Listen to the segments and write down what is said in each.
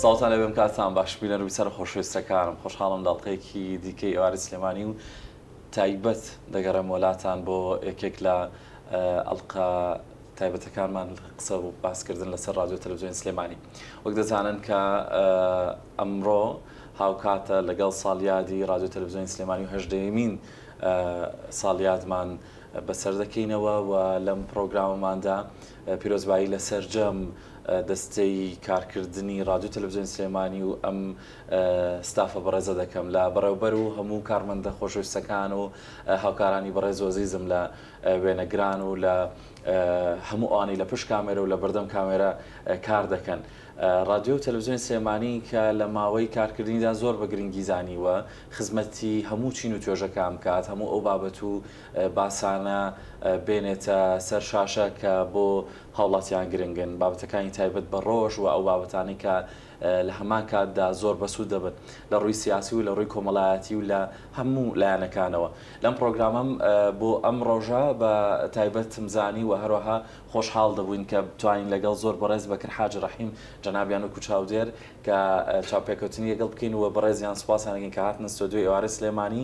سڵاوتان لێ بێم کاتتان باش بینەر و بیسەرە خۆشەویستەکانم خۆشحاڵم لە ئەڵقەیەکی دیکەی ئێوارەی سلێمانی و تایبەت دەگەڕێمەوە لاتان بۆ یەکێک لە ئەڵقە تایبەتەکانمان قسە و باسکردن لەسەر ڕادیۆ تەلەڤزیۆنی سلێمانی وەک دەزانن کە ئەمڕۆ هاوکاتە لەگەڵ ساڵیادی ڕادیۆ تەلەڤزیۆنی سلێمانی و هەژدەیەمین ساڵیادمان بەسەر دەکەینەوە و لەم پرۆگرامەماندا پیرۆزبایی لە سەرجەم دەستەی کارکردنی ڕادیۆ تەلەڤزیۆنی سلێمانی و ئەم ستافە بەڕێزە دەکەم لە بەڕێوبەر و هەموو کارمەندە خۆشەویستەکان و هاوکارانی بەڕێز و ئەزیزم لە وێنەگران و لە هەموو ئەوانەی لە پشت کامێرە و لە بەردەم کامێرە کار دەکەن. ڕادیۆ و تەلەڤزیۆنی سلێمانی کە لە ماوەی کارکردنیدا زۆر بە گرنگی زانیوە خزمەتی هەموو چین و توێژەکان بکات، هەموو ئەو بابەت و باسانە بێنێتە سەر شاشە کە بۆ هاوڵاتیان گرنگن، بابەتەکانی تایبەت بە ڕۆژ و ئەو بابەتانەی کە لە هەمان کاتدا زۆر بەسوود دەبن لە ڕووی سیاسی و لە ڕووی کۆمەڵایەتی و لە هەموو لایەنەکانەوە لەم پڕۆگرامەم بۆ ئەم ڕۆژە بە تایبەتم زانی و هەروەها خۆشحاڵ دەبووین کە بتوانین لەگەڵ زۆر بەڕێز بەکر حاجی ڕەحیم جەنابیان وەکو چاودێر کە چاوپێکەوتنی لەگەڵ بکەین و بەڕێزیان سوپاسیان دەکەین کە هاتنە ستۆدیۆی ئێوارەی سلێمانی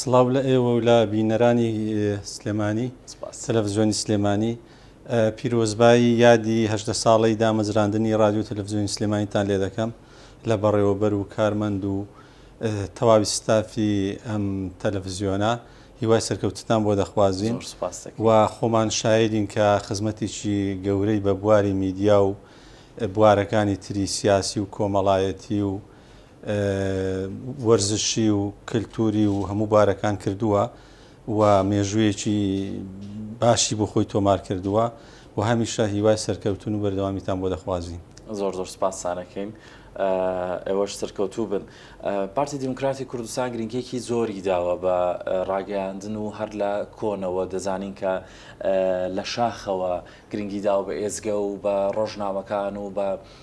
سڵاو لە ئێوە و لە بینەرانی سلێمانی تەلەفزیۆنی سلێمانی. پیرۆزبایی یادی هەژدە ساڵەی دامەزراندنی رادیۆ تەلەفزیۆنی سلێمانیتان لێ دەکەم لە بەڕێوەبەر و کارمەند و تەواوی ستافی ئەم تەلەفزیۆنە. هیوای سەرکەوتنتان بۆ دەخوازین زۆر سوپاس دەکەین و خۆمان شایدین کە خزمەتێکی گەورەی بە بواری میدیا و بوارەکانی تری سیاسی و کۆمەڵایەتی و وەرزشی و کەلتوری و هەموو بارەکان کردووە و مێژوویەکی باشی بۆ خۆی تۆمار کردووە و هەمیشە هیوای سەرکەوتن و بەردەوامیتان بۆ دەخوازین. زۆر زۆر سوپاستان ئەکەین ئێوەش سەرکەوتوو بن. پارتی دیموکراتی کوردستان گرنگیەکی زۆری داوە بە ڕاگەیاندن و هەر لە کۆنەوە دەزانین کە لە شاخەوە گرنگی داوە بە ئێزگە و بە ڕۆژنامەکان و بە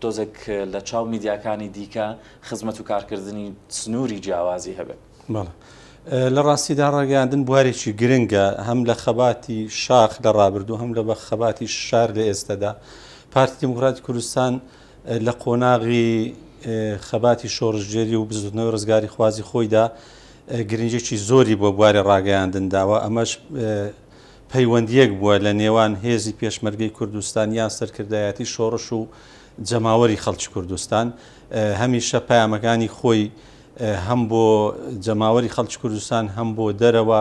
تۆزێک لە چاو میدیاکانی دیکە خزمەت و کارکردنی سنووری جیاوازی هەبێت. بەڵێ لە ڕاستیدا ڕاگەیاندن بوارێکی گرنگە هەم لە خەباتی شاخ لە ڕابردوو هەم لە بە خەباتی شار لە ئێستەدا پارتی دیموکراتی کوردستان لە قۆناغی خەباتی شۆڕشگێری و بزوتنەوەی ڕزگاری خوازی خۆیدا گرنجێکی زۆری بۆ بوارێ ڕاگەیاندن داوە ئەمەش پەیوەندییەک بووە لە نێوان هێزی پێشمەرگەی کوردستان یان سەرکردایەتی شۆڕش و جەماوەری خەڵکی کوردستان. هەمیشە پەیامەکانی خۆی هەم بۆ جەماوەری خەڵکی کوردستان هەم بۆ دەرەوە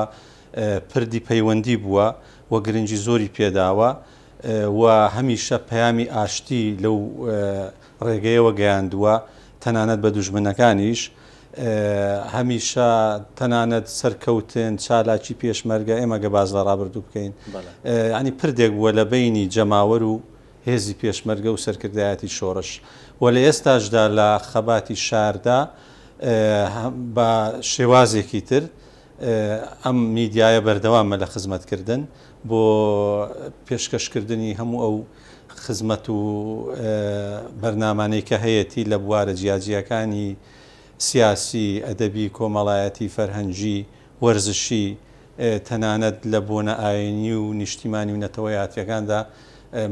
پردی پەیوەندی بووە و گرنگی زۆری پێداوە و هەمیشە پەیامی ئاشتی لەو ڕێگەیەوە گەیاندووە، تەنانەت بە دوژمنەکانیش هەمیشە تەنانەت سەرکەوتن، چالاکی پێشمەرگە، ئێمە گە باس لە ڕابردوو بکەین یانی پردێک بووە لە بەینی جەماوەر و هێزی پێشمەرگە و سەرکردایەتی شۆڕش و لە ئێستاشدا لە خەباتی شاردا بە شێوازێکی تر ئەم میدیایە بەردەوامە لە خزمەتکردن بۆ پێشکەشکردنی هەموو ئەو خزمەت و بەرنامانەی کە هەیەتی لە بوارە جیاجیاکانی، سیاسی، ئەدەبی، کۆمەڵایەتی، فەرهەنگی، وەرزشی، تەنانەت لە بۆنە ئاینی و نیشتیمانی و نەتەوەیاتیەکاندا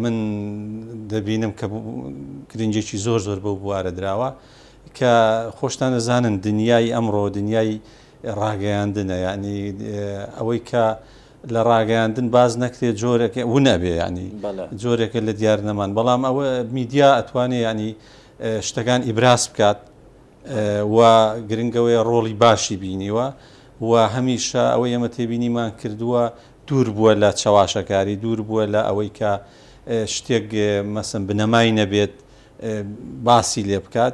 من دەبینم کە گرنگێکی زۆر زۆر بەو بوارە دراوە کە خۆشتان ئەزانن دنیای ئەمڕۆ دنیای ڕاگەیاندنە یەعنی ئەوەی کە لە ڕاگەیاندن باس نەکرێت جۆرەکە ون ئەبێ یەعنی جۆرێکە لە دیار نەمان بەڵام ئەوە میدیا ئەتوانێ یەعنی شتەکان ئیبراز بکات و گرنگەوەیە ڕۆڵی باشی بینیوە و هەمیشە ئەوە ئێمە تێبینیمان کردووە دوور بووە لە چەواشەکاری دوور بووە لە ئەوەی کە شتێک مەسم بنەمای نەبێت باسی لێ بکات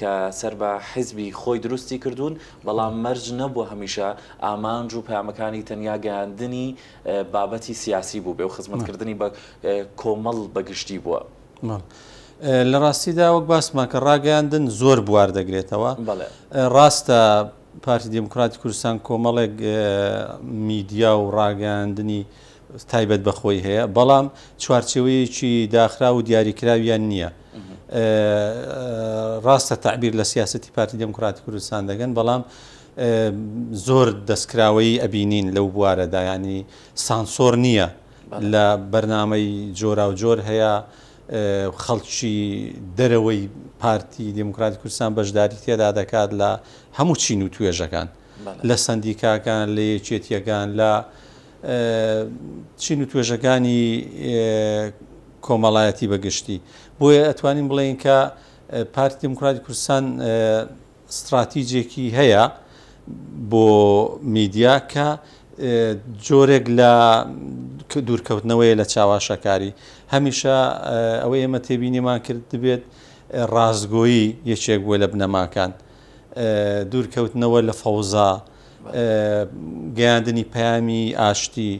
کە سەر بە حیزبی خۆی دروستی کردوون، بەڵام مەرج نەبووە هەمیشە ئامانج و پەیامەکانی تەنیا گەیاندنی بابەتی سیاسی بووبێ و خزمەتکردنی بە کۆمەڵ بە گشتی بووە. لە ڕاستیدا وەک باسمان کە ڕاگەیاندن زۆر بوار دەگرێتەوە. ڕاستە پارتی دیموکراتی کوردستان کۆمەڵێک میدیا و ڕاگەیاندنی تایبەت بە خۆی هەیە، بەڵام چوارچێوەیەکی داخراو و دیاریکراویان نییە. ڕاستە تەعبیر لە سیاسەتی پارتی دێموکڕاتی کوردستان دەکەن، بەڵام زۆر دەستکراوەیی ئەبینین لەو بوارەدا، یانی سانسۆڕ نییە لە بەرنامەی جۆراوجۆر هەیە، خەڵکی دەرەوەی پارتی دێموکڕاتی کوردستان بەشداری تێدا دەکات لە هەموو چین و توێژەکان، لە سەندیکاکان، لە یەکێتییەکان، لە. چین و توێژەکانی کۆمەڵایەتی بە گشتی بۆیە ئەتوانین بڵێین کە پارتی دموکراتی کوردستان ستراتیجێکی هەیە بۆ میدیا کە جۆرێک لە دوورکەوتنەوەی لە چاواشەکاری هەمیشە ئەوە ئێمە تێبینیمان کرد دەبێت ڕاستگۆیی یەکێک بووە لە بنەماکان دوورکەوتنەوە لە فەوزا گەیاندنی پەیامی ئاشتی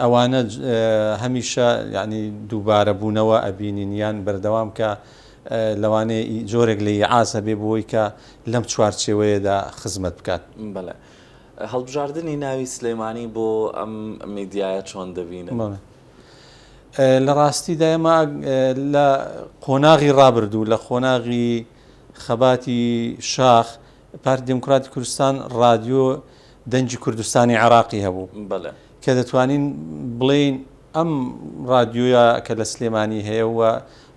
ئەوانە هەمیشە یانی دووبارە بوونەوە ئەبینین یان بەردەوام کە لەوانەیە جۆرێک لە ئیعاز هەبێ بۆی کە لەم چوارچێوەیەدا خزمەت بکات. بەڵێ هەڵبژاردنی ناوی سلێمانی بۆ ئەم میدیایە چۆن دەبینن؟ لە ڕاستیدا ئێمە لە قۆناغی ڕابردوو لە قۆناغی خەباتی شاخ پارتی دیموکراتی کوردستان ڕادیۆ دەنگی کوردستانی عێراقی هەبوو کە دەتوانین بڵێین ئەم ڕادیۆە کە لە سلێمانی هەیە و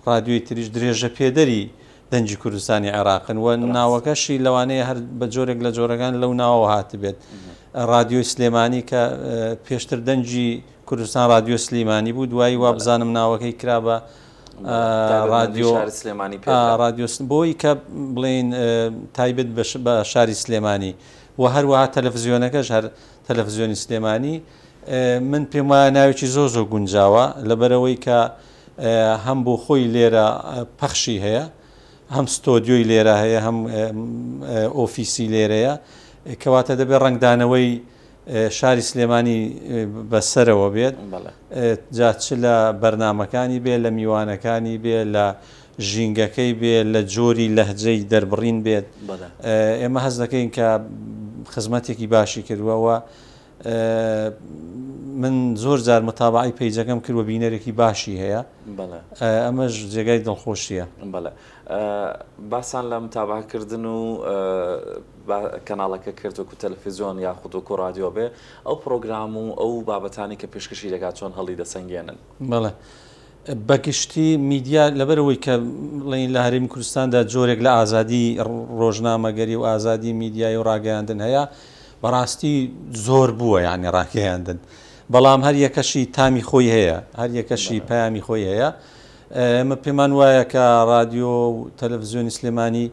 ڕادیۆی تریش درێژە پێدەری دەنجی کوردستانی عێراقن و ناوەکەشی لەوانەیە هەر بە جۆرێک لە جۆرەکان لەو ناوە هاتبێت ڕادیۆی سلێمانی کە پێشتر دەنجی کوردستان ڕادیۆ سلیمانی بوو دوایی وابزانم ناوەکەی کرا بە ڕادیۆ سلێمانی ڕادیۆس بۆی کە بڵین تایبەت بە شاری سلێمانی و هەروەها تەلەڤزیۆنەکەش هەر تەلەڤزیۆنی سلێمانی من پێم وایە ناوێکی زۆ زۆ گونجاوە لەبەرەوەی کە هەم بۆ خۆی لێرە پەخشی هەیە هەم ستۆدیۆی لێرە هەیە هەم ئۆفیسی لێرەیە کەواتە دەبێت ڕنگدانەوەی شاری سلێمانی بە سەرەوە بێت جا چ لە بەرنامەکانی بێ لە میوانەکانی بێ لە ژینگەکەی بێ لە جۆری لەهجەی دەربڕین بێت ئێمە هەز دەکەین کە خزمەتێکی باشی کردووەوە من زۆر جار متابعی پەیجەکەم کرد و بینەرێکی باشی هەیە ئەمەش جێگای دڵخۆشیە بەڵێ باسان لە متابەعە کردن و بە کەناڵەکە کرد وەکو تەلەفیزۆن یاخود وەکو ڕادیۆ بێ ئەو پڕۆگرام و ئەو بابەتانەی کە پێشکەشی دەکات چۆن هەڵی دەسەنگێنن؟ بەڵێ بەگشتی میدیا لەبەر ئەوەی کە بڵێین لە هەرێمی کوردستاندا جۆرێک لە ئازادی ڕۆژنامەگەری و ئازادی میدیایی و ڕاگەیاندن هەیە بەڕاستی زۆر بووە یانی ڕاگەیاندن بەڵام هەر یەکەشی تامی خۆی هەیە هەر یەکەشی پەیامی خۆی هەیە ئێمە پێمان وایە کە رادیۆ و تەلەفزیۆنی سلێمانی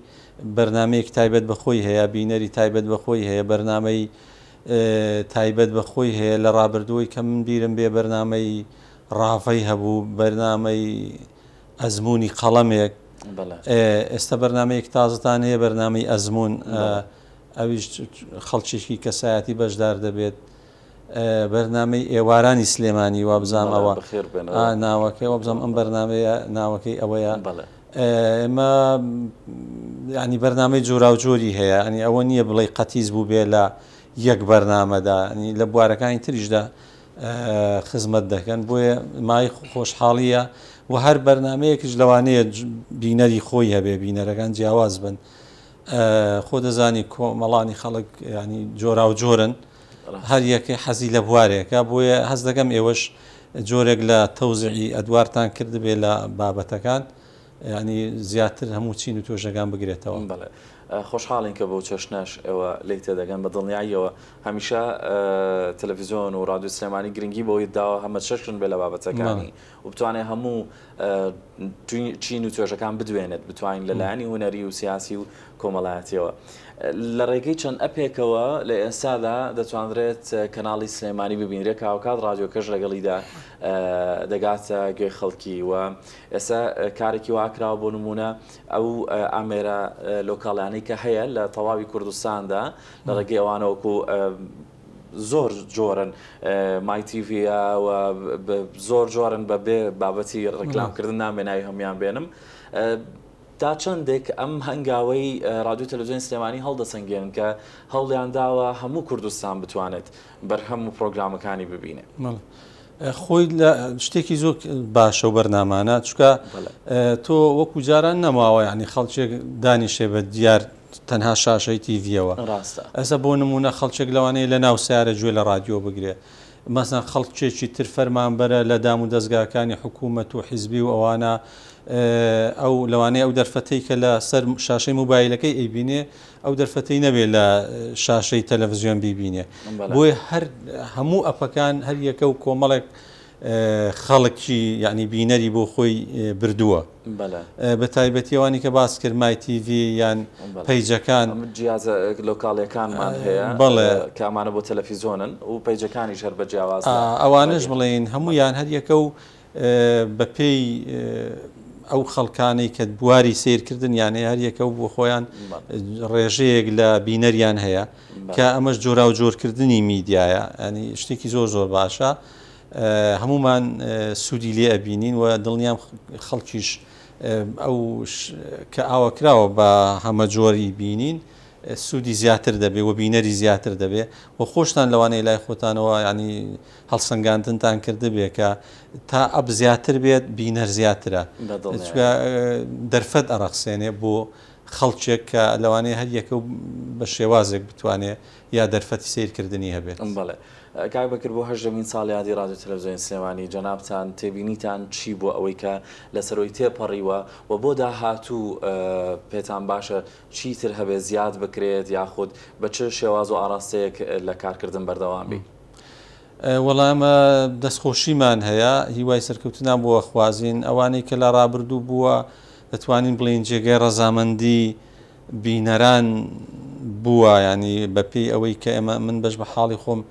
بەرنامەیەکی تایبەت بە خۆی هەیە، بینەری تایبەت بە خۆی هەیە، بەرنامەی تایبەت بە خۆی هەیە، لە رابردووەی کە من بیرم بێ بەرنامەی راڤەی هەبوو، بەرنامەی ئەزموونی قەڵەمێک، ئێستا بەرنامەیەکی تازەتان هەیە بەرنامەی ئەزموون ئەویش خەڵکێکی کەسایەتی بەشدار دەبێت. بەرنامەی ئێوارانی سلێمانی وابزانم ئەوە ناوەکەی وابزانم ئەم بەرنامەیە ناوەکەی ئەوەیە ئێمە ینی بەرنامەی جۆراوجۆری هەیە ئەنی ئەوە نییە بڵێ قەتیز بوو بێ لە یەک بەرنامەدا لە بوارەکانی تریشدا خزمەت دەکەن بۆیە مای خۆشحاڵیە و هەر بەرنمەیەکش لەوانەیە بینەری خۆی هەبێ بینەرەکان جیاواز بن خۆ دەزانی کۆمەڵانی خەڵک ینی جۆرا و جۆرن هەر یەک حەزی لە بوارێکە، بۆیە هەست دەکەم ئێوەش جۆرێک لە تەوزیعی ئەدوارتان کردبێ لە بابەتەکان، یانی زیاتر هەموو چین و توێژەکان بگرێتەوە. بەڵێ. خۆشحاڵین کە بەو چەشنەش ئێوە لێی تێدەگەن. بە دڵنیاییەوە هەمیشە تەلەفیزیۆن و ڕادیۆی سلێمانی گرنگی بەوەی داوە هەمەچەشن بێ لە بابەتەکانی. و بتوانێت هەموو چین و توێژەکان بدوێنێت، بتوانین لە لایەنی هونەری و سیاسی و کۆمەڵایەتیەوە لە ڕێگەی چەند ئەپێکەوە لە ئێستادا دەتوانرێت کەناڵی سلێمانی ببینرێت کە هاوکات ڕادیۆکەش لەگەڵیدا دەگاتە گوێی خەڵکی و ئێستا کارێکی واکراوە بۆ نمونە ئەو ئامێرە لۆکاڵیانەی کە هەیە لە تەواوی کوردستاندا لە ڕێگەی ئەوانەوەکو زۆر جۆرن مای تیڤیە و زۆر جۆرن بە بێ بابەتی ڕیکلامکردن نامێ ناوی هەموان بێنم تا چەندێک ئەم هەنگاوەی رادیو تەلوزیۆن سلێمانی هەڵدەسەنگێن کە هەوڵیان داوە هەموو کوردستان بتوانێت بەرهەم و پرۆگرامەکانی ببینێ خۆی لە شتێکی زۆر باشە و بەرنامانە چکە تۆ وەکو جاران نەماوە ینی خەڵکێک دانیشێ بە دیار تەنها شاشەی تیڤیەوە ڕاستە. ئێستا بۆ نموونە خەڵکێک لەوانەیە لە ناو سەیارە گوێ لە ڕادیۆ بگرێ. مەسەن خەڵکێکی تر فەرمانبەرە لە دام و دەزگاکانی حکوومەت و حیزبی و ئەوانە ئەو لەوانەیە ئەو دەرفەتەی کە لە سەر شاشەی موبایلەکەی ئەیبینێ ئەو دەرفەتەی نەبێ لە شاشەی تەلەڤزیۆن بیبینێ. بۆیە هەر هەموو ئەپەکان هەر یەکە و کۆمەڵێک خەڵکی یانی بینەری بۆ خۆی بردووە بەلە بە تایبەتی ئەوانی کە باس کرد مای تیڤی یان پەیجەکان جیازە لۆکاڵیەکانمان هەیە بەڵێ کامانە بۆ تەلەفیزۆنن و پەیجەکانی ژەر بە جیاواز ئەوانش بڵێن هەموو یان هەریەکە و بەپێی ئەو خەڵکانەی کە بواری سیرکردن یان هەیە هەریەکە و بۆ خۆیان ڕێژەیەک لە بینەریان هەیە کە ئەمەش جۆرا و جۆرکردنی میدیایە ئەنی شتێکی زۆر زۆر باشە هەموومان سوودی لێ ئەبینین و دڵنیام خەڵکیش ئەو کە ئاوەکراوە بە هەمەجۆری بینین سوودی زیاتر دەبێ و بینەری زیاتر دەبێ و خۆشتان لەوانەیە لای خۆتانەوە ینی هەڵسەنگاندنتان کردبێ کە تا ئەپ زیاتر بێت بینەر زیاترە دەرفەت ئەڕەخسێنێ بۆ خەڵکێک کە لەوانەیە هەر یەکە و بە شێوازێک بتوانێ یا دەرفەتی سیرکردنی هەبێت. کاک بەکر بۆ هەژدەمین ساڵ یادی ڕادیۆ تەلەفزیۆنی سلێمانی جەنابتان تێبینیتان چی بۆ ئەوەی کە لەسەرۆی تێپەڕیوە و بۆ داهاتوو پێتان باشە چی تر هەبێ زیاد بکرێت یاخود بە چ شێواز و ئاراستەیەک لە کارکردن بەردەوام بی؟ وەڵا ئێمە دەستخۆشیمان هەیە هیوای سەرکەوتنان بۆ ئەخوازین ئەوانەی کە لە ڕابردوو بووە دەتوانین بڵێین جێگای ڕەزامەندی بینەران بووە یانی بە پێی ئەوەی کە ئێمە من بەش بە حاڵی خۆم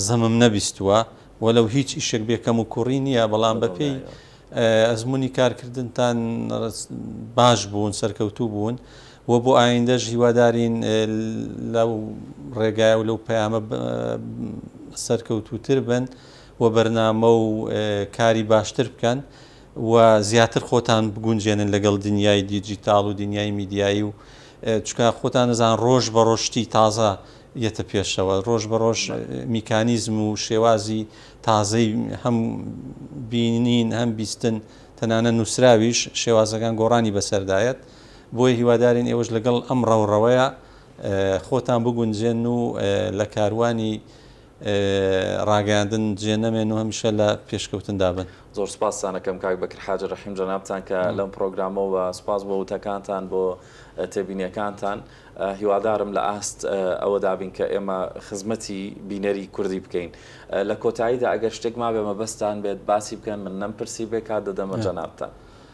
زەمم نەبیستووە وەلەو هیچ ئیشێک بێ کەم و کوڕی نییە بەڵام بە پێی ئەزمونی کارکردنتان باش بوون سەرکەوتوو بوون و بۆ ئایندەش هیوادارین لەو ڕێگای و لەو پەیامە سەرکەوتوتر بن و بەرنامە و کاری باشتر بکەن و زیاتر خۆتان بگونجێنن لەگەڵ دنیای دیجیتاڵ و دنیای میدیایی و چونکە خۆتان ئەزان ڕۆژ بە ڕۆژ شتی تازە یەتە پێشەوە ڕۆژ بە ڕۆژ میکانیزم و شێوازی تازەی هەم بینین هەم بیستن تەنانە نووسراویش شێوازەکان گۆڕانی بەسەردایەت بۆیە هیوادارین ئێوەش لەگەڵ ئەم ڕەوڕەوەیە خۆتان بگونجێن و لە کاروانی ڕاگەیاندن جێ نەمێن و هەمیشە لە پێشکەوتندا بن. زۆر سوپاستان ئەکەم کاک بەکر حاجی ڕەحیم جەنابتان کە لەم پڕۆگرامە و سوپاس بۆ وتەکانتان بۆ تێبینیەکانتان هیوادارم لە ئاست ئەوەدا بین کە ئێمە خزمەتی بینەری کوردی بکەین لە کۆتاییدا ئەگەر شتێک مابێ مەبەستتان بێت باسی بکەن من نەمپرسیبێ کات دەدەمە جەنابتان.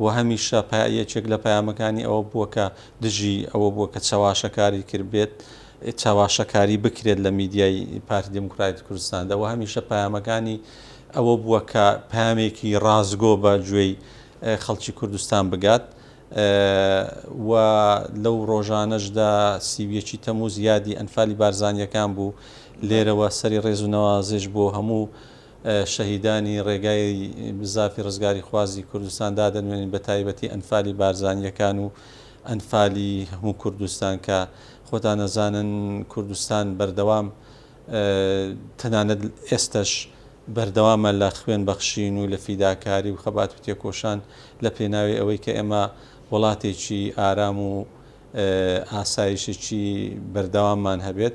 و هەمیشە یەکێک لە پەیامەکانی ئەوە بووە کە دژی ئەوە بووە کە چەواشەکاری کربێت، چەواشەکاری بکرێت لە میدیای پارتی دیموکراتی کوردستاندا و هەمیشە پەیامەکانی ئەوە بووە کە پەیامێکی ڕاستگۆ بە گوێی خەڵکی کوردستان بگات و لەو ڕۆژانەشدا سی و یەکی تەمووز یادی ئەنفالی بارزانییەکان بوو، لێرەوە سەری ڕێز و نەوازش بۆ هەموو شەهیدانی ڕێگای بزافی ڕزگاریخوازی کوردستان دادەنوێنین بە تایبەتی ئەنفالی بارزانییەکان و ئەنفالی هەموو کوردستان کە خۆتان ئەزانن کوردستان بەردەوام تەنانەت ئێستەش بەردەوامە لە خوێن بەخشین و لە فیداکاری و خەبات و تێکۆشان لە پێناوی ئەوەی کە ئێمە وڵاتێکی ئارام و ئاسایشێکی بەردەواممان هەبێت.